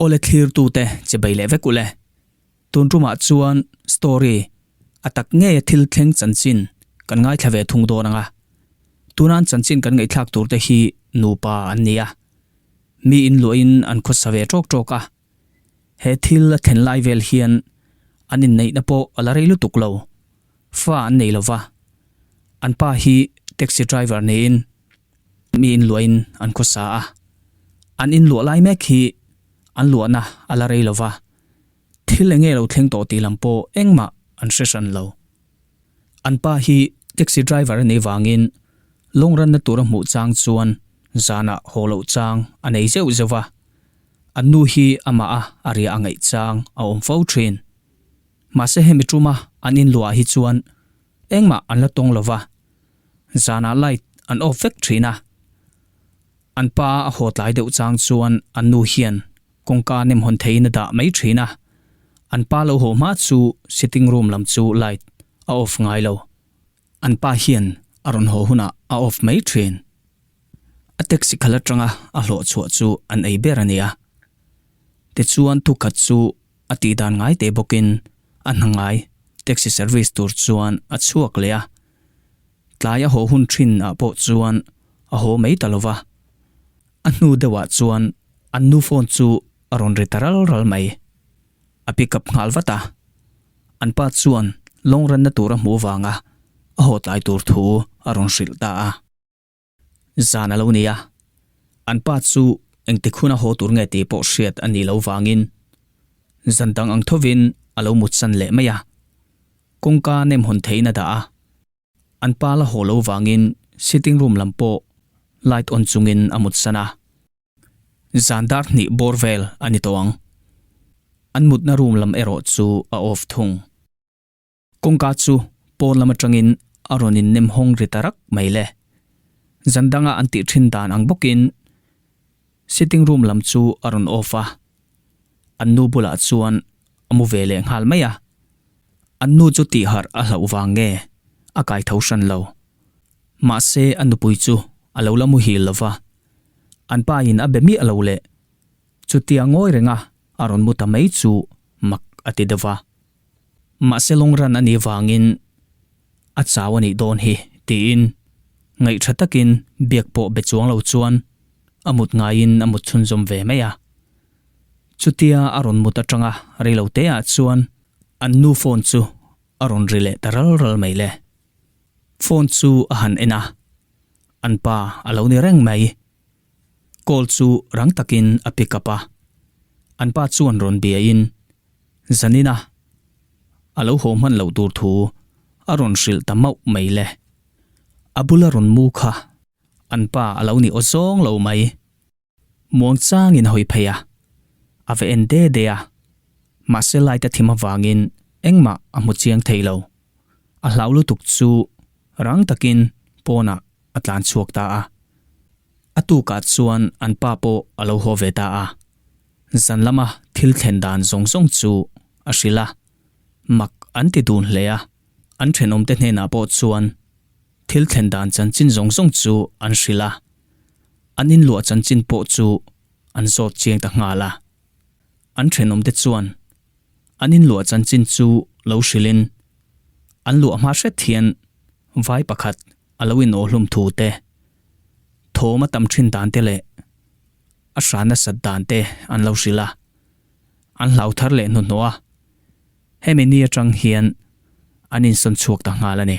Awle thlirtu te che bei leh vek u le. Tun tumah chuan story a tak ngei a thil thleng chanchin kan ngaithla ve thung dawn ang a. Tunan chanchin kan ngeihthlak tur te hi nupa an ni a. Miin luahin an khawsa ve tawk tawk a. He thil a thlen lai vel hian an inneihna pawh a la rei lutuk lo. Fa an nei lo va, an pa hi taxi driver niin mi inluahin an khaw sa a. An inluah lai mek hi an luahna a la rei lo va, thil eng nge lo thleng tawh tih lam pawh engmah an hre hran lo. An pa hi taxi driver a nei vangin lawngranna tur a hmuh chang chuan zanah haw loh chang a nei zeuh zeuh a. An nu hi amah a a riah a ngaih chang a awm fo thin. Mahse hemi tuma an inluah hi chuan engmah an la tawng lo va, zanah light an off vek thin a. An pa a haw tlai deuh chang chuan an nu hian kawngka nem hawn thei in a dah mai thin a, an pa lo haw hma chu sitting room lam chu light a off ngai lo. An pa hian a rawn haw hunah a off mai thin. A taxi khalh atanga a hlawh chhuah chu an ei ber a nia. Tichuan thu khat chu a tih dan ngai teh bawkin a hnangai taxi service tur chuan a chhuak leh a. Tlai a haw hun thinah pawh chuan a haw mai ta lova. A hnu deuhah chuan an nu phone chu a rawn ri ta ral ral mai. a pick up nghal vat a, an pa chuan lawng ranna tura hmuh vanga a haw tlai tur thu a rawn hrilh ta a. Zan a lo ni a, an pa chu engtikhun a haw tur nge tih pawh hriat a nih loh vangin zan dang ang thovin a lo mutsan leh mai a. Kawngka nem hun theihin a dah a, an pa la haw lo vangin sitting room lam pawh light on chungin a mutsan a. Zan dar hnih bawr vel a ni tawh ang. An mutna room lam erawh chu a off thung. Kawngka chu pawn lam atangin a rawn innem hawng ri ta rak mai le. Zan danga an tih thin dan ang bawkin sitting room lam chu a rawn off a. An nu bulah chuan a mu ve leh nghal mai a. An nu chu tihharh a hlauh vang nge a kai tho hran lo. Mahse a nupui chu a lo la muhil lova An pain a be miah lo le. Chutia ngawi renga a rawn mu ta mai chu mak a ti deuh a. Mahse lawngran a nih vangin a chau a nih dawn hi tiin ngaih tha takin biak pawh be chuang lo chuan a mut ngaiin a mut chhunzawm ve mai a. Chutia a rawn mut atanga reilo teah chuan an nu phone chu a rawn ri leh ta ral ral mai le. Phone chu a han en a. An pa a lo ni reng mai. Call chu rang takin a pick up a. An pa chuan rawn biain, Zanina, a lo haw hman loh tur thu a rawn hrilh ta mauh mai le. A bula rawn mu kha an pa a lo ni aw zawng lo mai. Muang changin hawi phei a, a va en de de a, mahse light a thim avangin engmah a hmu chiang thei lo. A hlau lutuk chu rang takin pawnah a tlan chhuak ta a. A tukah chuan an pa pawh a lo haw ve ta a. Zan lama thil thlen dan zawng zawng chu a hrilh a, mak an ti dun hle a, an thenawmte hnenah pawh chuan thil thlen dan chanchin zawng zawng chu an hrilh a. An inluah chanchin pawh chu an zawt chiang ta nghal a, an thenawm te chuan an inluah chanchin chu lo hrilhin an luah hma hret hian vai pakhat a lo inaw hlum thu te, thawm a tam thin dan te leh a hran nasat dan te an lo hrilh a, an hlau thar leh hnuhnawh a, hemi ni atang hian an insawn chhuak ta nghal a ni.